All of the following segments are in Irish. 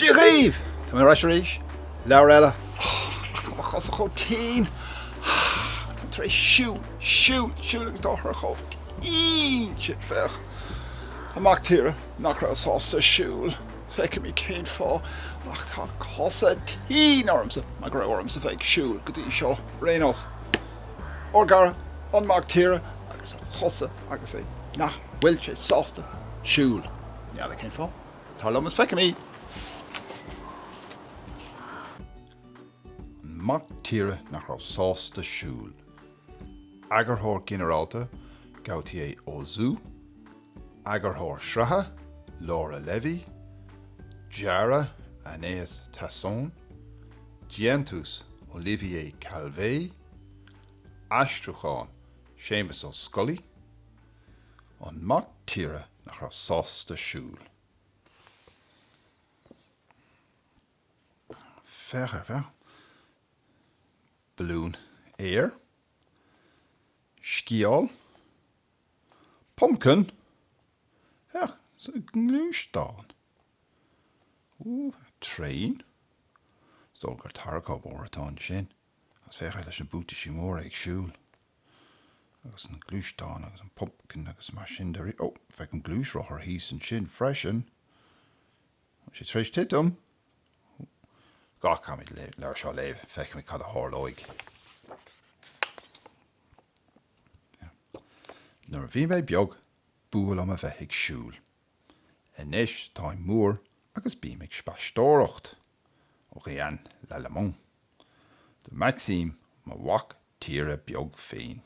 Dia dhaoibh! Tá mé ar ais arís, leabhar eile. Ach tá mo chosa chomh tinn! Táim tar éis siúl, siúl, siúl agus tá siad chomh tinn! Siad, féach! An mac tíre nach raibh sásta siúl! Feicimid cén fáth, ach tá cosa tinn ormsa mar go raibh ormsa bheith ag siúl go dtí seo ar aon nós. Ó, agus an Mac Tíre agus a chosa agus é nach bhfuil sé sásta siúl. N'fheadar cén fáth. Tar liom is feicimid! An Mac Tíre nach raibh sásta siúl. Eagarthóir Ginearálta, Gauthier Auzou. Eagarthóir Sraithe, Laura Levy, Dearadh, Anaïs Tasson, Déantús, Olivier Calvet, Aistriúchán, Séamus Ó Scolaí, An Mac Tíre nach raibh sásta siúl. Féach air, féach. Balún Aeir, Sciáil, Pumpkin? Féach sa ngluaisteán. Úúúú, traein? Is dóigh gur tarracóir mór atá ansin. Agus féach leis na buataisí móra ag siúl. Agus an gluaisteán agus an pumpkin agus mar sin de. Ó, feicim gluaisrothar thíos ansin freisin. Tá sé tar éis titim. Caithfimid an leabhar seo a léamh, feicfimid cad a tharlóidh. Nuair a bhí mé beag, b'fhuath liom a bheith ag siúl. Anois táim mór agus bím ag spaisteoireacht. Orianne Lallemand. Do Maxime, mo mhac tíre beag féin.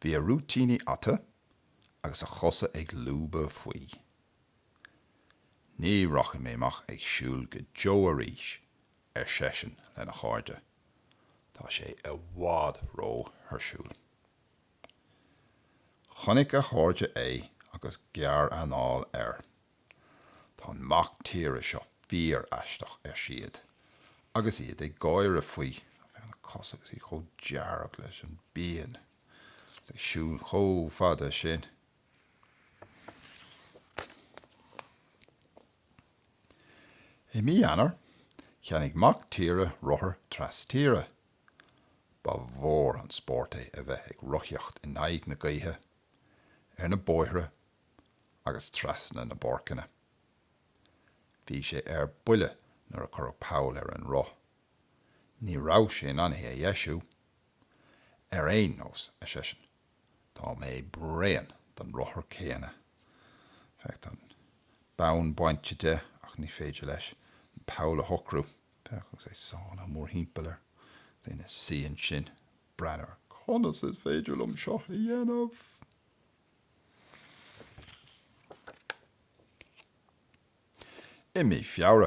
Bhí a rúitíní ata agus a chosa ag lúbadh faoi. Ní rachaidh mé amach ag siúl go deo arís, ar seisean lena chairde, tá sé i bhfad ró-thuirsiúil. Chonaic a chairde é agus gearranáil air. Tá an mac tíre seo fíoraisteach, ar siad, agus iad ag gáire faoi. Féach ar na cosa agus iad chomh dearg leis an bpian agus ag siúl chomh fada sin. I mí Eanáir, cheannaigh mac tíre rothar trastíre. Ba mhór an spórt é a bheith ag rothaíocht in aghaidh na gaoithe ar na bóithre agus trasna na bpáirceanna. Bhí sé ar buile nuair a cuireadh poll ar an roth. Ní raibh sé in ann é a dheisiú. Ar aon nós, ar seisean, tá mé bréan den rothar céanna. Féach, tá an bonn bainte de ach ní féidir leis an poll a shocrú. Féach, agus é sáinnithe mórthimpeall air, ina shuí ansin, ag breathnú air, conas is féidir liom seo a dhéanamh? I mí Feabhra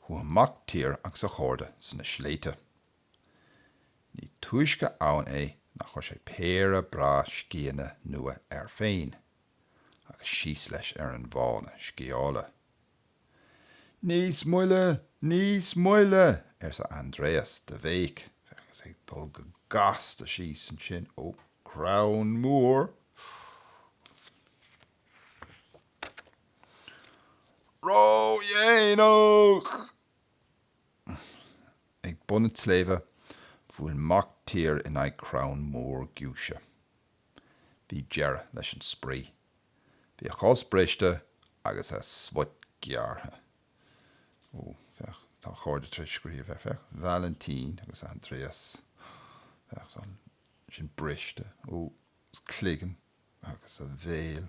chuaigh an Mac Tíre agus a chairde sna sléibhte. Ní túisce ann é ná chuir sé péire breá scíonna nua air féin agus síos leis ar an bhfána scíála. Níos moille! Níos moille! arsa Andreas de bhéic agus é ag dul go gasta síos ansin ó, crann mór. Ró-dhéanach! Ag bun an tsléibhe, bhuail Mac Tíre in aghaidh crann mór giúise. Bhí deireadh leis an spraoi. Bhí a chos briste agus a smut gearrtha. Ó, féach, tá a chairde tar éis scríobh air, féach, Valentin agus Andreas. Féach, tá sin briste. Ó, is cloigeann agus a bhéal.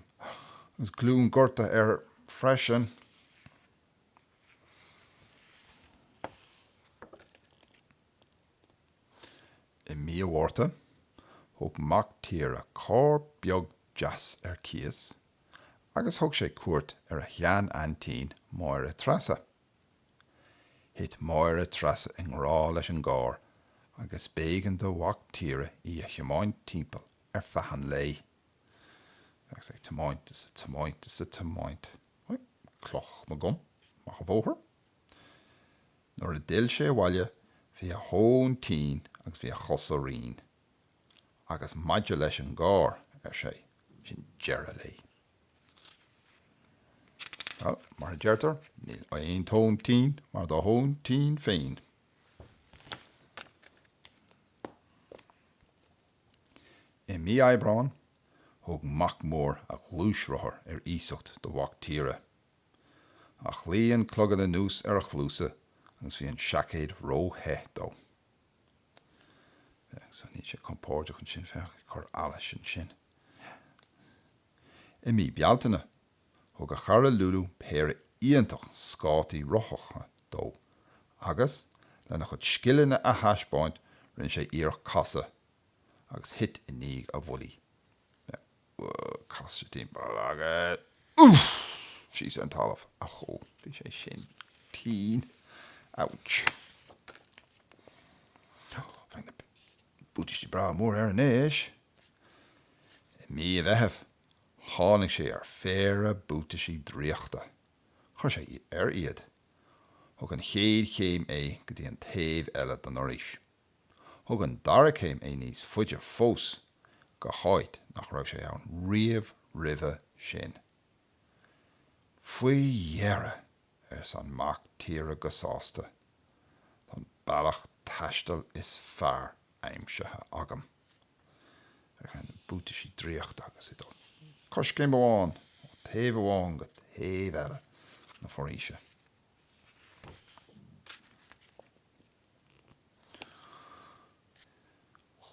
Agus glúin gortaithe air freisin. I mí an Mhárta, thóg Mac Tíre carr beag deas ar cíos agus thug sé cuairt ar a shean-aintín Máire Treasa. Thit Máire Treasa i ngrá leis an gcarr agus b'éigean do Mhac Tíre í a thiomáint timpeall ar feadh an lae. Bheadh sé ag tiomáint is ag tiomáint is ag tiomáint. Cloch na gCon, amach an bóthar. Nuair a d'fhill sé abhaile bhí a thóin tinn agus bhí a chosa righin. Agus maidir leis an gcarr, ar sé, sin deireadh léi. Well, mar a deirtear, níl aon tóin tinn mar do thóin tinn féin. I mí Aibreáin, thug Mac Mór a ghluaisrothar ar iasacht do Mhac Tíre. Ach luigh an clogad anuas ar a chluasa agus bhí an seaicéad ró-the dó. Sea, níl sé compóirdeach ansin, féach, ag cur allais ansin. I mí Bealtaine, thug a chara Lulu péire iontach scátaí rothacha dó agus, lena chuid scileanna a thaispeáint, rinne sé iarracht casadh agus thit i ndiaidh a mhullaigh. Sea. Casadh timpeall agus síos ar an talamh. Achú, bhí sé sin tinn. Ouch. Bheadh na buataisí breá mór air anois. I mí an Mheithimh tháinig sé ar phéire buataisí draíochta. Chuir sé air iad. Thug an chéad chéim é go dtí an taobh eile den fhoraois. Thug an dara céim é níos faide fós go háit nach raibh sé ann riamh roimhe sin. Faoi dheireadh, ars an mac tíre go sásta, tá an bealach taistil is fearr aimsithe agam. Buataisí draíochta agus ag dul coiscéim amháin ó taobh amháin go taobh eile na foraoise.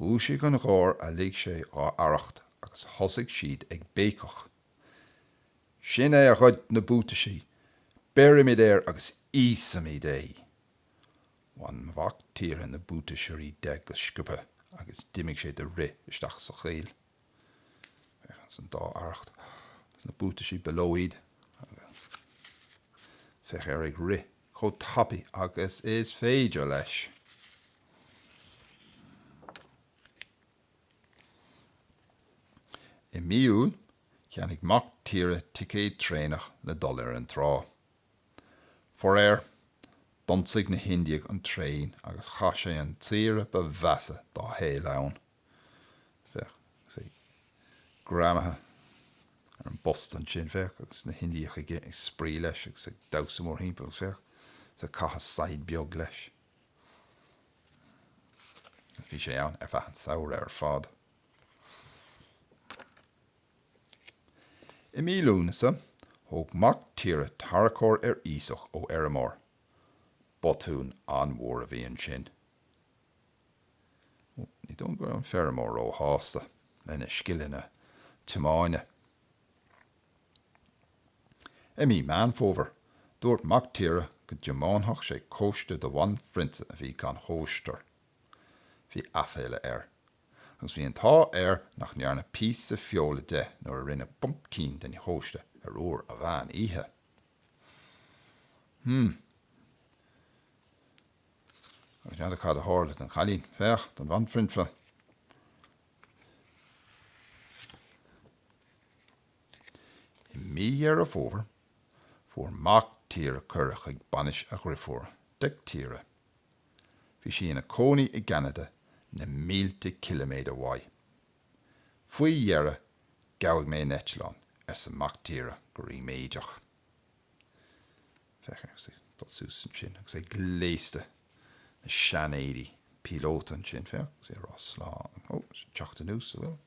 Dhúisigh an gháir a lig sé dhá arracht agus thosaigh siad ag béiceach. Sin é a ghoid na buataisí! Béarfaimid air agus íosfaimid é! Bhain Mhac Tíre na buataisí de go sciobtha agus d'imigh sé de rith isteach sa choill. Féach san dá arracht na buataisí bailíodh iad agus féach air ag rith chomh tapaidh agus is féidir leis. I mí Iúil cheannaigh Mac Tíre ticéad traenach le dul ar an trá. Faraor, d'ionsaigh na hIndiaigh an traein agus chaith sé an tsaoire ba mheasa dá shaol ann. féach, agus é greamaithe ar an bpost ansin, féach, agus na hIndiacha ag spraoi leis agus ag damhsa mórthimpeall, agus féach, ag caitheamh saighead beag leis. Agus bhí sé ann ar feadh an samhradh ar fad. I mí Lúnasa, thóg Mac Tíre tarracóir ar iasacht ó fheirmeoir. Botún an-mhór a bhí ansin. Ní dóigh liom go raibh an feirmeoir ró-shásta lena scileanna tiomáine. I mí Meán Fómhair, dúirt Mac Tíre go dtiomáinfeadh sé cóiste do bhanphrionsa a bhí gan chóisteoir. Bhí aiféala air. Agus bhí an t-ádh air nach ndearnadh píosa feola de nuair a rinneadh pumpkin den chóiste ar uair an mheán oíche. Hmm. Agus n'fheadar cad a tharla don chailín. Féach, don bhanphrionsa. I mí Dheireadh Fómhair, fuair mac tíre cuireadh chuig bainis a dhriofúr, Dic Tíre. Bhí sí ina cónaí i gCeanada, na mílte ciliméadar uaidh. Faoi dheireadh, gabhadh mé in eitleán, arsa mac tíre go ríméideach. Féach air agus é ag dul suas annsin agus é gléasta 'na sean-éidí píolóta annsin, féach, agus é ag rádh Slán ó, is ag teacht anuas a bhfuil.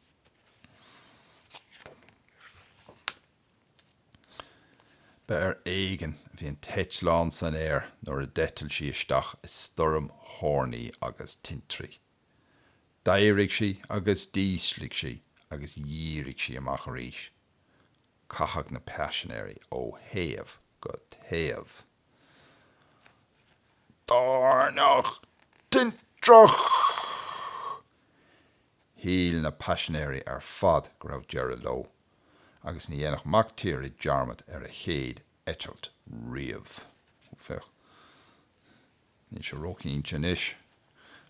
Ba ar éigin a bhí an t-eitleán san aer nuair a d'eitil sí isteach i stoirm thóirní agus tintrí. D'éirigh sí agus d'ísligh sí agus dhírigh sí amach arís. Caitheadh na paisinéirí ó thaobh go taobh Toirneach tintreach! Shíl na paisinéirí ar fad go raibh deireadh leo, agus ní dhéanfadh Mac Tíre dearmad ar a chéad eitilt riamh. Ó féach, níl sé ró-chinnte anois,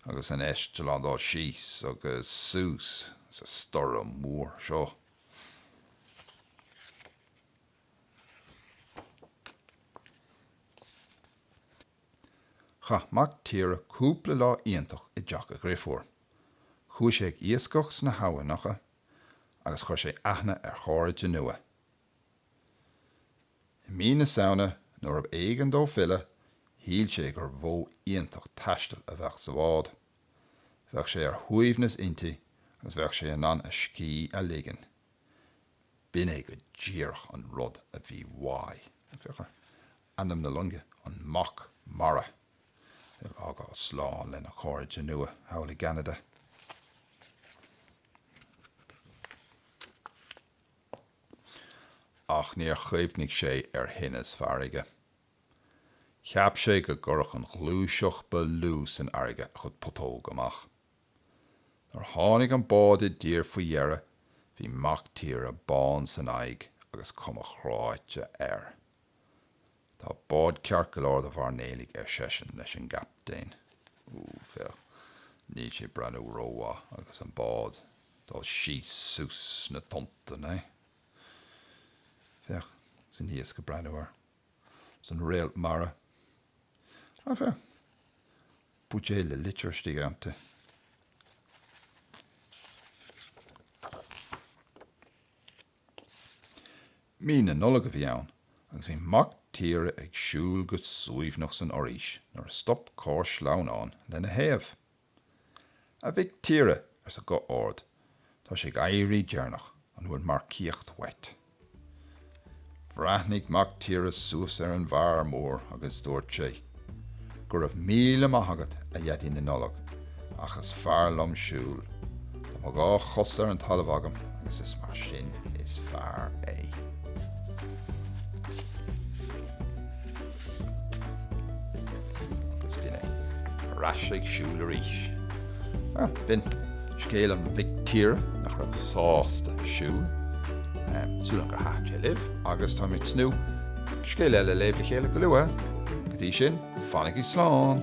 agus an eitleán ag dul síos agus suas sa stoirm mhór seo. Chaith Mac Tíre cúpla lá iontach i dteach a dhriofúr. Chuaigh sé ag iascach sna habhainneacha agus chuir sé aithne ar chairde nua. I mí na Samhna nuair ab éigean dó filleadh shíl sé gur mhodh iontach taistil a bheadh sa bhád. Bheadh sé ar shuaimhneas inti agus bheadh sé in ann a scíth a ligean. B'in é go díreach an rud a bhí uaidh. Féach ar ainm na loinge, An Mac Mara. Ag fhágáil slán lena chairde nua thall i gCeanada. Ach níor chuimhnigh sé ar thinneas farraige. Cheap sé go gcuirfeadh an ghluaiseacht ba lú san fharraige a chuid putóg amach. Nuair a tháinig an bád i dtír faoi dheireadh bhí mac tíre bán san aghaidh agus cuma chráite air. Tá bád ceart go leor do mhairnéalaigh ar seisean leis an gcaptaen. Ooh féach. Níl sé breathnú rómhaith agus an bád dul síos suas sna tonnta né? Féach, is an t-iasc ag breathnú air. 's an réalt mara. Ach eh, buidéal le litir istigh iontu. Mí na Nollag a bhí ann agus bhí mac tíre ag siúl go suaimhneach san fhoraois nuair a stop carr sleamhnáin lena thaobh. A mhic tíre, arsa guth ard, tá sé ag éirí deireanach, an bhfuil marcaíocht uait? Bhreathnaigh mac tíre suas ar an bhfear mór agus dúirt sé, Go raibh míle maith agat, a Dhaidí na Nollag, ach is fearr liom siúl. Tá mo dhá chos ar an talamh agam agus is mar sin is fearr é. Ar ais ag siúl arís. B'in scéal an Mhic Tíre nach raibh sásta siúl. Súil agam gur thaitn sé libh agus tá mé ag tnúth scéal eile léamh le chéile go luath. Go dtí sin, fanaigí slán!